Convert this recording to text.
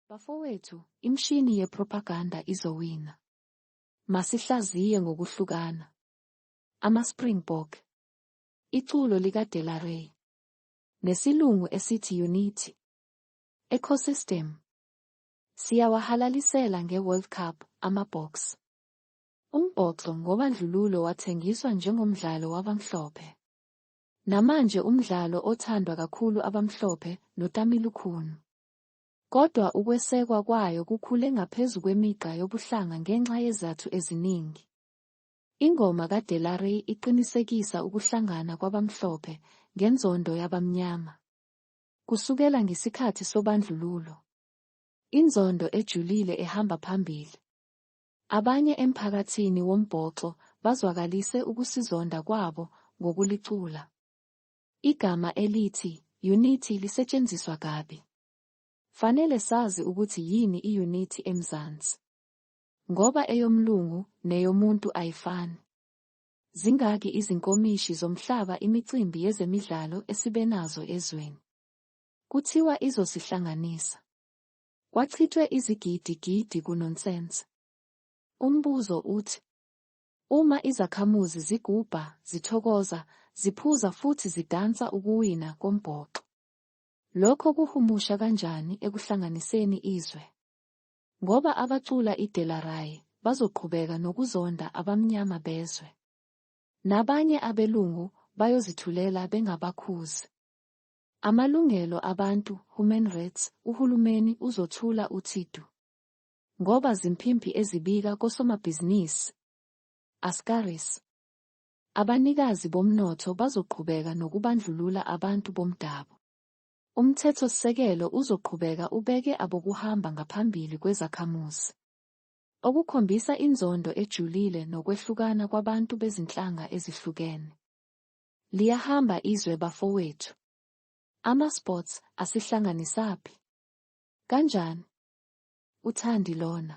Bafowethu, imshini yepropaganda izowina. Masihlaziye ngokuhlukana. AmaSpringbok. Iculo likaDelaray. Nesilungu esithi Unity. Ecosystem. Siyawahalalisela ngeWorld Cup, amaBoks. Umbhoxo ngobandlululo wathengiswa njengomdlalo wabamhlophe. Namanje umdlalo othandwa kakhulu abamhlophe noTamilukhunu. Kodwa ukwesekwa kwayo kukhule ngaphezu kwemigqa yobuhlanga ngenxa yezathu eziningi. Ingoma kaDelaray iqinisekisa ukuhlangana kwabamhlophe ngenzondo yabamnyama. Kusukela ngesikhathi sobandlululo, inzondo ejulile ehamba phambili. Abanye emphakathini wombhoxo bazwakalise ukusizonda kwabo ngokulicula. Igama elithi yunithi lisetshenziswa kabi. Fanele sazi ukuthi yini iyunithi eMzansi. Ngoba eyomlungu neyomuntu ayifani. Zingaki izinkomishi zomhlaba imicimbi yezemidlalo esibenazo ezweni. Kuthiwa izosihlanganisa. Kwachithwe izigidi gidi kunonsense. Umbuzo uthi. Uma izakhamuzi zigubha, zithokoza, ziphuza futhi zidansa ukuwina kombhoxo, lokho kuhumusha kanjani ekuhlanganiseni izwe? Ngoba abacula iDelaray bazoqhubeka nokuzonda abamnyama bezwe. Nabanye abelungu bayozithulela bengabakhuzi. Amalungelo abantu, human rights, uhulumeni uzothula uthi du. ngoba zimpimpi ezibika kosomabhizinisi, askaris. Abanikazi bomnotho bazoqhubeka nokubandlulula abantu bomdabu. Umthethosisekelo uzoqhubeka ubeke abokuhamba ngaphambili kwezakhamuzi, okukhombisa inzondo ejulile nokwehlukana kwabantu bezinhlanga ezihlukene. Liyahamba izwe bafowethu. Ama-sports asihlanganisaphi? Kanjani? UThandi lona.